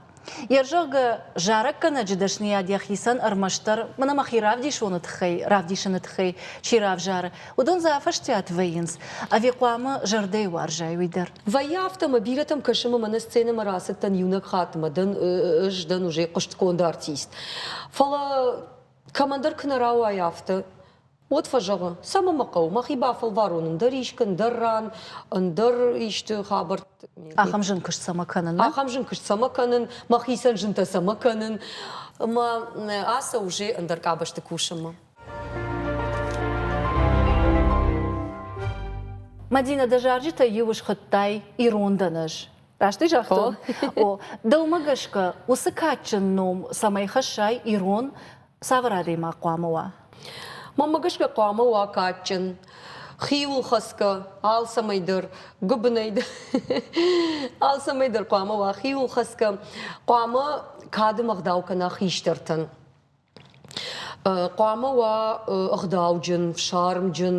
йӕ зӕгъгӕ, зарӕггӕнӕджы дӕсныйад йӕхицӕн ӕрмӕстдӕр мӕнӕ мӕхи равдисоны тыххӕй, равдисыны тыххӕй чи равзары, Уыдон дзы афӕстиат вӕййынц, ӕви хъуамӕ зӕрдӕйы уарзай уый дӕр? Вӕййы афтӕ, мӕ бирӕтӕм кӕсы, мӕ мӕнӕ сценӕмӕ рацыдтӕн иунӕг хатт, мӕ дӕн, ӕз дӕн уже хъуыстгонд артист. Фӕлӕ кӕмӕндӕр куы нӕ рауайы афтӕ, уӕд фӕзӕгъы, цӕмӕ мӕ хъӕуы, мӕхи бафӕлварон ӕндӕр искы, ӕндӕр ран, ӕндӕр исты хабӕртт. Ахӕм зын куыст цӕмӕ кӕнын? нӕ? Ахӕм зын куыст цӕмӕ кӕнын, мӕхицӕн зынтӕ цӕмӕ кӕнын? Мӕ ацӕуы уже ӕндӕр къабӕзты кусынмӕ. Мадинӕ, дӕ зарджытӕ иу схуыдтай «Ирон дӕнӕз». Раст ӕй загътон? О, дӕумӕ гӕсгӕ уыцы кадджын ном цӕмӕй хӕссай ирон, цавӕр адӕймаг хъуамӕ уа? Мӕнмӕ гӕсгӕ хъуамӕ уа кадджын, хиуыл хӕцгӕ, алцӕмӕй дӕр, гуыбынӕй дӕр. алцӕмӕй дӕр хъуамӕ уа хиуыл хӕцгӕ, хъуамӕ кады ӕгъдау кӕна хистӕртӕн. Хъуамӕ уа ӕгъдауджын, фсармджын.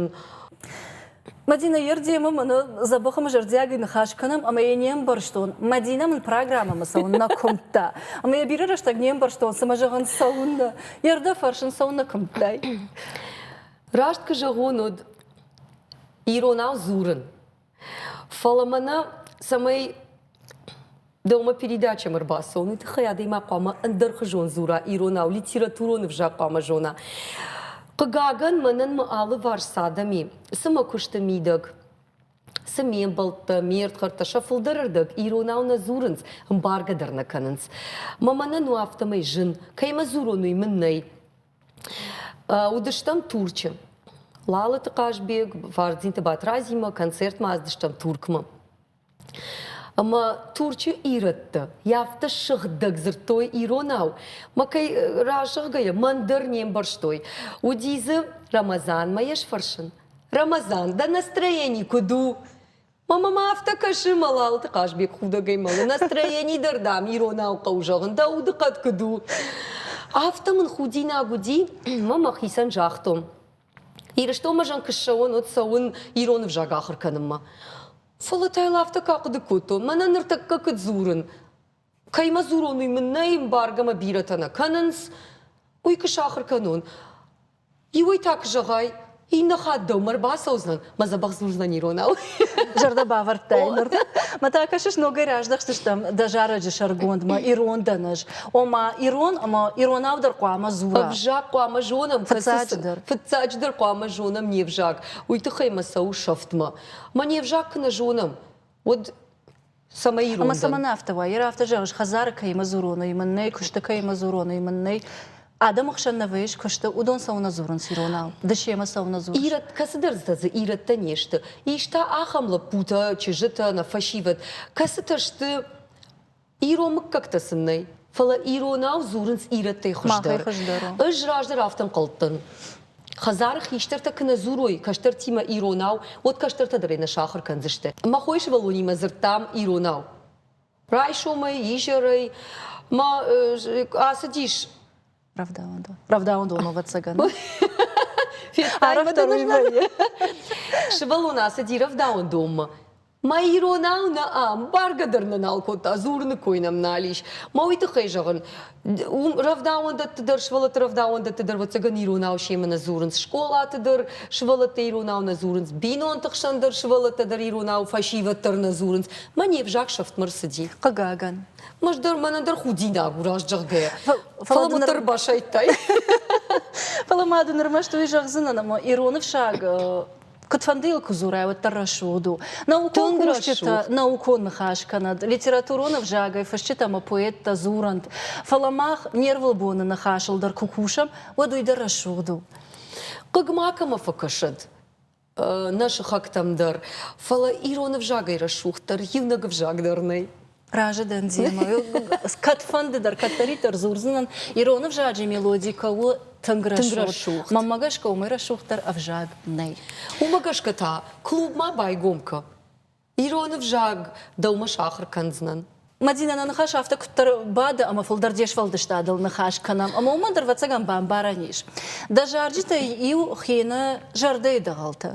Мадинӕ, йе рдемы мын дзӕбӕхы мы зӕрдиагӕй ныхас кӕнӕм ӕмӕ йӕ не мбӕрстон. Мадинӕ мын программӕмӕ цӕуын нӕ куымдта. Ӕмӕ йӕ бирӕ рӕстӕг не мбӕрстон, цымӕ зӕгъын цӕуыннӕ. Йе рдӕ фӕрсын цӕуыннӕ куымдтай. Раст куы зӕгъон, уӕд иронау дзурын. Фӕлӕ мӕнӕ цӕмӕй дӕумӕ передачӕм ӕрбацӕуыны тыххӕй адӕймаг хъуамӕ ӕндӕрхуызон дзура иронау, литературон ӕвзаг хъуамӕ зона. Хъыгагӕн, мӕнӕн мӕ алыварс цы адӕм и, цы мӕ куысты мидӕг, цы ме мбӕлттӕ, ме ӕрдгӕрттӕ сӕ фылдӕрырдӕг иронау нӕ дзурынц, ӕмбаргӕ дӕр нӕ кӕнынц. Мӕ мӕнӕн у афтӕмӕй зын, кӕимӕ дзурон, уый мын нӕй. Уыдыстӕм Турчы. Лалыты Хъазбег, Фардзинты Батразимӕ концертмӕ ацыдыстӕм Туркмӕ. Ӕмӕ Турчы ирӕттӕ афтӕ сыгъдӕг дзырдтой иронау, мӕ кӕй разӕгъгӕйӕ мӕн дӕр не мбӕрстой. Уыди дзы Рамазанмӕ йӕ сфӕрсын. Рамазан, дӕ настроение куыд у? Мама мӕ афтӕ кӕсы, мӕ Лалыты Хъазбег худӕгӕй мӕлы. Настроени дӕр, дам, иронау хъӕуы зӕгъын, дӕ удыхъӕд куыд у. Афтӕ мын худинаг уыди, мӕ мӕхицӕн загътон. Ирыстонмӕ зӕн куы ссӕуон, уӕд цӕуын ирон ӕвзаг ахуыр кӕнынмӕ. Фӕлӕ та йыл афтӕ кӕхъуыды кодтон, мӕнӕ ныртӕккӕ куыд дзурын, Кӕй мӕ дзурон, уый мын нӕй, эмбарго мӕ бирӕтӕ нӕ кӕнынц, уый куы сахуыр кӕнон. Иуӕй та куы зӕгъай, иннӕ хатт дӕумӕ ӕрбацӕудзынӕн, мӕ дзӕбӕх дзурдзынӕн иронау. Зӕрдӕ бавӕрдтай ныр. Мӕ та кӕсыс, ногӕй раздӕхдзыстӕм дӕ зарӕджы сӕргондмӕ, ирон дӕн ӕз. Ома, ирон ӕмӕ иронау дӕр хъуамӕ дзура. Ӕвзаг хъуамӕ зонӕм, фыццаджыдӕр. Фыццаджыдӕр хъуамӕ зонӕм не взаг. Уый тыххӕй мӕ цӕуы сӕфтмӕ. Мӕ не взаг куы нӕ зонӕм, уӕд Цӕмӕй Ӕмӕ цӕмӕн афтӕ уа? Йер афтӕ зӕгъыс, хӕдзары кӕимӕ дзуроной, мын нӕй, куысты кӕимӕ дзуроной, мын нӕй. Адӕмы хсӕн нӕ вӕййыс куысты, уыдон цӕуылнӕ дзурынц иронау? Ды семӕ цӕуылнӕ дзурыс? Ирӕт, кӕцыдӕртӕ дзы ирӕттӕ не сты. Ис та ахӕм лӕппутӕ, чызджытӕ, нӕ фӕсивӕд, кӕцытӕ сты, ирон мыггӕгтӕ сын нӕй. Фӕлӕ иронау дзурынц ирӕттӕй хуыздӕр. Ӕз раздӕр афтӕ ӕнхъӕлдтӕн. Хӕдзары хистӕртӕ куы нӕ дзурой кӕстӕртимӕ иронау, уӕд кӕстӕртӕ дӕр ӕй нӕ сахуыр кӕндзысты. Мӕ хойы сывӕллонимӕ дзырдтам иронау. Райсомӕй, изӕрӕй мӕ ацыдис Рӕвдауӕндон. Рӕвдауӕндон, ӕвӕццӕгӕн. Сывӕллон ацыди рӕвдауӕндонмӕ. Мӕ иронау нӕ ам, бӕргӕ дӕр нӕ нал кодта, дзурыны кой нӕм нал ис. Мӕ уый тыххӕй зӕгъын, уым рӕвдауӕндӕтты дӕр, сывӕллӕтты рӕвдауӕндӕтты дӕр, ӕвӕццӕгӕн иронау семӕ нӕ дзурынц. Скъолаты дӕр сывӕллӕтты иронау нӕ дзурынц, бинонты хсӕн дӕр сывӕллӕттӕ дӕр иронау фӕсивӕд дӕр нӕ дзурынц. Мӕ не взаг сӕфтмӕ рцыди. Хъыгагӕн, Мӕз дӕр мӕнӕ дӕр худинаг у раст зӕгъгӕ. Фӕлӕ уӕддӕр басайдтай. Фӕлӕ ма дын ӕрмӕст уый зӕгъдзынӕн, ӕмӕ ирон ӕфсаг Куыдфӕндыйыл куы дзурай, уӕддӕр рӕсугъд у. Наукон кусджытӕ наукон ныхас кӕнӕд, литературон ӕвзагӕй фысджытӕ ӕмӕ поэттӕ дзурӕнт, фӕлӕ мах не рвылбоны ныхасыл дӕр куы кусӕм, уӕд уый дӕр рӕсугъд у. Хъыг макӕмӕ фӕкӕсӕд. нӕ сыхӕгтӕм дӕр. Фӕлӕ ирон ӕвзагӕй рӕсугъддӕр иунӕг ӕвзаг дӕр нӕй. Разы дӕн демӕ. Кӕдфӕнды дӕр кӕддӕриддӕр дзурдзынӕн, ирон ӕвзаджы мелоди кӕуы тынг рӕсугъд. Мӕнмӕ гӕсгӕ уымӕй рӕсугъддӕр ӕвзаг нӕй. Уымӕ гӕсгӕ та клубмӕ байгом кӕ. Ирон ӕвзаг дӕумӕ сахуыр кӕндзынӕн. Мадинӕ, нӕ ныхас афтӕ куыддӕр бады ӕмӕ фылдӕр де сфӕлдыстадыл ныхас кӕнӕм, ӕмӕ уымӕн дӕр ӕвӕццӕгӕн бамбарӕн ис. Дӕ зарджытӕй иу хины зӕрдӕйы дӕгъӕлтӕ.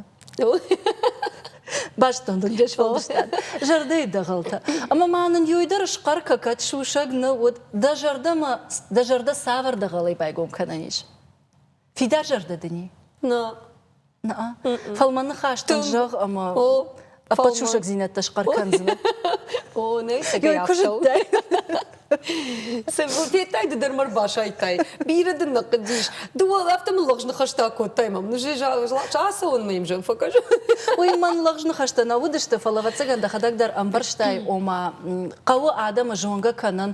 Бӕстон дын де сфӕлдыстад. Зӕрдӕйы дӕгъӕлтӕ. Ӕмӕ ма нын иуӕй дӕр схъӕр кӕ кӕд сусӕг нӕ уыд, дӕ зӕрдӕмӕ, дӕ зӕрдӕ цавӕр дӕгъӕлӕй байгом кӕнӕн ис? Фидарзӕрдӕ дын и? Нӕ. Нӕ? Фӕлмӕн ныхӕстӕн зӕгъ ӕмӕ ӕппӕт сусӕгдзинӕдтӕ схъӕр кӕндзынӕ. О, нӕ сӕгӕй ӕфсӕуы. Сӕвзур федтай, ды дӕр мӕ рбасайдтай. Бирӕ дын нӕ хъыдис. Ды уал афтӕ мын лӕгъз ныхӕстӕ кодтай, мам. Ацӕуын мӕм зӕм фӕкӕс. Уый мӕн лӕгъз ныхӕстӕ нӕ уыдысты, фӕлӕ ӕвӕццӕгӕн дӕхӕдӕг дӕр ӕмбӕрстай, ома, хъӕуы адӕмы зонгӕ кӕнын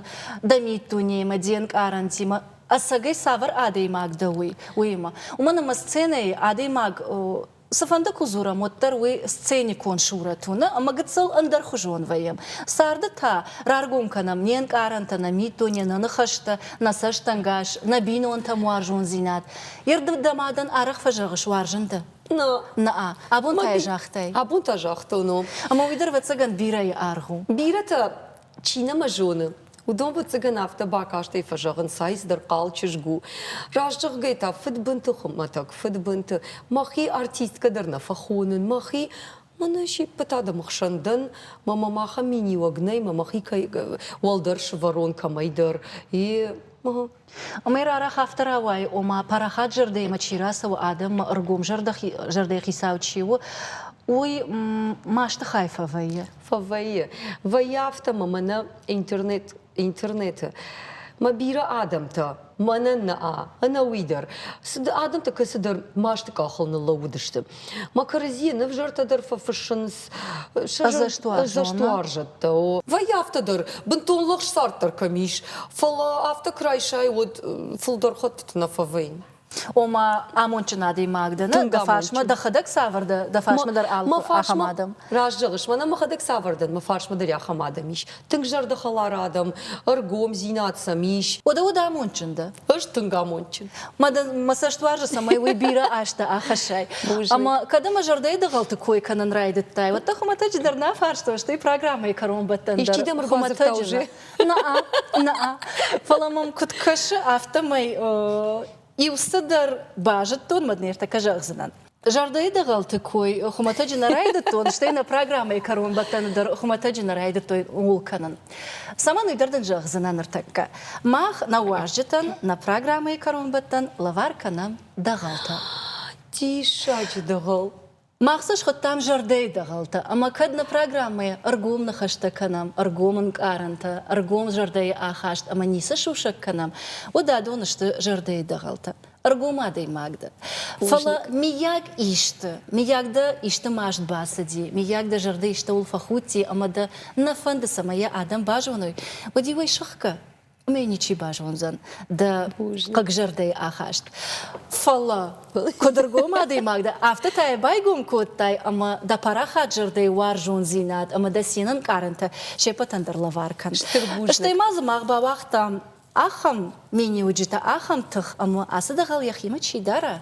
дӕ миддунеймӕ, де нкъарӕнтимӕ ӕцӕгӕй цавӕр адӕймаг дӕ уый, уыимӕ. Уымӕн ӕмӕ сценӕйы адӕймаг цыфӕнды куы дзурӕм, уӕддӕр уый сценикон сурӕт уыны ӕмӕ гыццыл ӕндӕрхуызон вӕййӕм. Царды та раргом кӕнӕм не нкъарӕнтӕ, нӕ миддуне, нӕ ныхӕстӕ, нӕ цӕстӕнгас, нӕ бинонтӕм уарзондзинад. Ирдыд дӕ мадӕн арӕх фӕзӕгъыс, уарзын дӕ? Нӕ. Нӕ. Абон та йӕ загътай? Абон та загътон, о. Ӕмӕ уый дӕр, ӕвӕццӕгӕн, бирӕйы аргъ у. Бирӕтӕ Чи нӕма зоны, уыдон, ӕвӕццӕгӕн, афтӕ бакастӕй фӕзӕгъынц, ай цыдӕр хъал чызг у. Раст зӕгъгӕ та, фыдбынты хуымӕтӕг, фыдбынты. Мӕхи артисткӕ дӕр нӕ фӕхонын, мӕхи мын сиппыт адӕмы хсӕн дӕн, мӕ мӕм ахӕм миниуӕг нӕй, мӕ мӕхи кӕй уӕлдӕр сывӕрон кӕмӕйдӕр. И Уымӕй рарӕх афтӕ рауайы, ома парахат зӕрдӕимӕ чи рацӕуы, адӕммӕ ӕргом зӕрдӕхицау чи у, уый масты хай фӕвӕййы. Фӕвӕййы. Вӕййы афтӕ мӕ мӕнӕ интернет, интернеты мӕ бирӕ адӕмтӕ, мӕнӕн нӕ ӕнӕуый дӕр, адӕмтӕ кӕцыдӕр масты къахыл ныллӕууыдысты. Макарзи нывзӕрдӕ дӕр фӕфыссынц ӕдзӕстуарзӕттӕ. Вӕййы афтӕ дӕр, бынтон лӕгсарддӕр кӕм ис, фӕлӕ афтӕ куы райсай, уӕд фылдӕр хӕттыты нӕ фӕвӕййы. Ома, амондджын адӕймаг дӕ нӕ, дӕ фарсмӕ дӕхӕдӕг цавӕр дӕ фарсмӕ дӕр алы ахӕм адӕм. Раст зӕгъыс, мӕнӕ мӕхӕдӕг цавӕр дӕн, мӕ фарсмӕ дӕр ахӕм адӕм ис. Тынг зӕрдӕхӕлар адӕм, ӕргомдзинад сӕм ис. Уӕдӕ уыд амондджын дӕ? Ӕз тынг амондджын. Мӕ цӕст уарзы, цӕмӕй уый бирӕ азтӕ ахӕссай. Ӕмӕ кӕд ӕмӕ зӕрдӕйы дӕгъӕлты кой кӕнын райдыдтай, уӕд дӕ хуымӕтӕджы дӕр нӕ фарстой, стӕй программӕйы кӕронбӕттӕн дӕр. Исчи дӕм ӕрбадзырдтӕ Наа, наа. Фӕлӕ мӕм куыд кӕсы, афтӕмӕй иу цыдӕр базыдтон, мӕд ныртӕккӕ зӕгъдзынӕн. Зӕрдӕйы дӕгъӕлты кой хуымӕтӕджы нӕ райдыдтон, стӕй нӕ программӕйы кӕронбӕттӕны дӕр хуымӕтӕджы нӕ райдыдтой ууыл кӕнын. Цӕмӕн уый дӕр дын зӕгъдзынӕ ныртӕккӕ. Мах нӕ уазджытӕн нӕ программӕйы кӕронбӕттӕн лӕвар кӕнӕм дӕгъӕлтӕ. Диссаджы дӕгъӕл! Мах цы схуыдтам зӕрдӕйы дӕгъӕлтӕ ӕмӕ кӕд нӕ программӕйӕ ӕргом ныхӕстӕ кӕнӕм, ӕргом ӕнкъарӕнтӕ, ӕргом зӕрдӕйы ахаст ӕмӕ ницы сусӕг кӕнӕм, уӕд адон сты зӕрдӕйы дӕгъӕлтӕ. ӕргом адӕймаг дӕ. Фӕлӕ миййаг исты, миййаг дӕ исты маст бацыди, миййаг дӕ зӕрдӕ истӕуыл фӕхудти ӕмӕ дӕ нӕ фӕнды, цӕмӕ йӕ адӕм базоной, уӕд уый сыхгӕ, уымӕй ничи базондзӕн дӕ хъыгзӕрдӕйы ахаст. Фӕлӕ куыд ӕргом адӕймаг дӕ, афтӕ та йӕ байгом кодтай ӕмӕ дӕ парахат зӕрдӕйы уарзондзинад ӕмӕ дӕ цинӕнкъарӕнтӕ се ппӕтӕн дӕр лӕвар кӕн. Стӕй ма дзы мах бауагътам Ахӕм миниуджытӕ, ахӕм тых ӕмӕ ацы дӕгъӕл йӕхимӕ чи дара,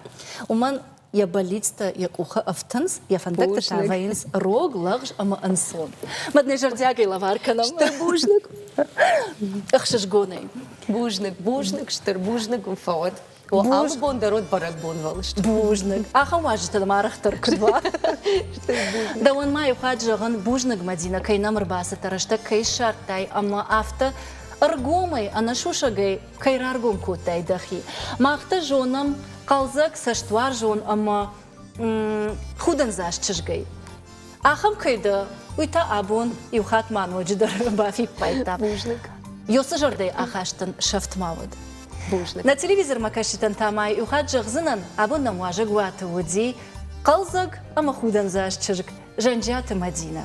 уымӕн йӕ бӕллицтӕ йӕ къухы ӕфтынц, йӕ фӕндӕгтытӕ вӕййынц рог, лӕгъз ӕмӕ ӕнцон. Мад нӕ зӕрдиагӕй лӕвар кӕнӕм. Стыр бузныг. Ӕхсызгонӕй. Бузныг, бузныг, стыр бузныг уын фӕуӕд. Алы бон дӕр уыд бӕрӕгбонвӕлыст. Бузныг. Ахӕм уазджытӕ дӕм арӕхдӕр куыд уа. Дӕуӕн ма иу хатт зӕгъын, бузныг, Мадинӕ, кӕй нӕм ӕрбацыдтӕ, рӕстӕг кӕй ссардтай ӕмӕ афтӕ ӕргомӕй, ӕнӕсусӕгӕй кӕй раргом кодтай дӕхи. Мах дӕ зонӕм, хъӕлдзӕг, цӕстуарзон ӕмӕ худындзаст чызгӕй. Ахӕм кӕй дӕ, уый та абон иу хатт ма ноджыдӕр бафиппайдта. Бузныг. Ёсы зӕрдӕйы ахаст дын сӕфт ма уӕд. Бузныг. Нӕ телевизормӕ кӕсджытӕн та ма иу хатт зӕгъдзынӕн, абон нӕм уазӕг уаты уыди хъӕлдзӕг ӕмӕ худӕндзаст чызг Зӕнджиаты Мадинӕ.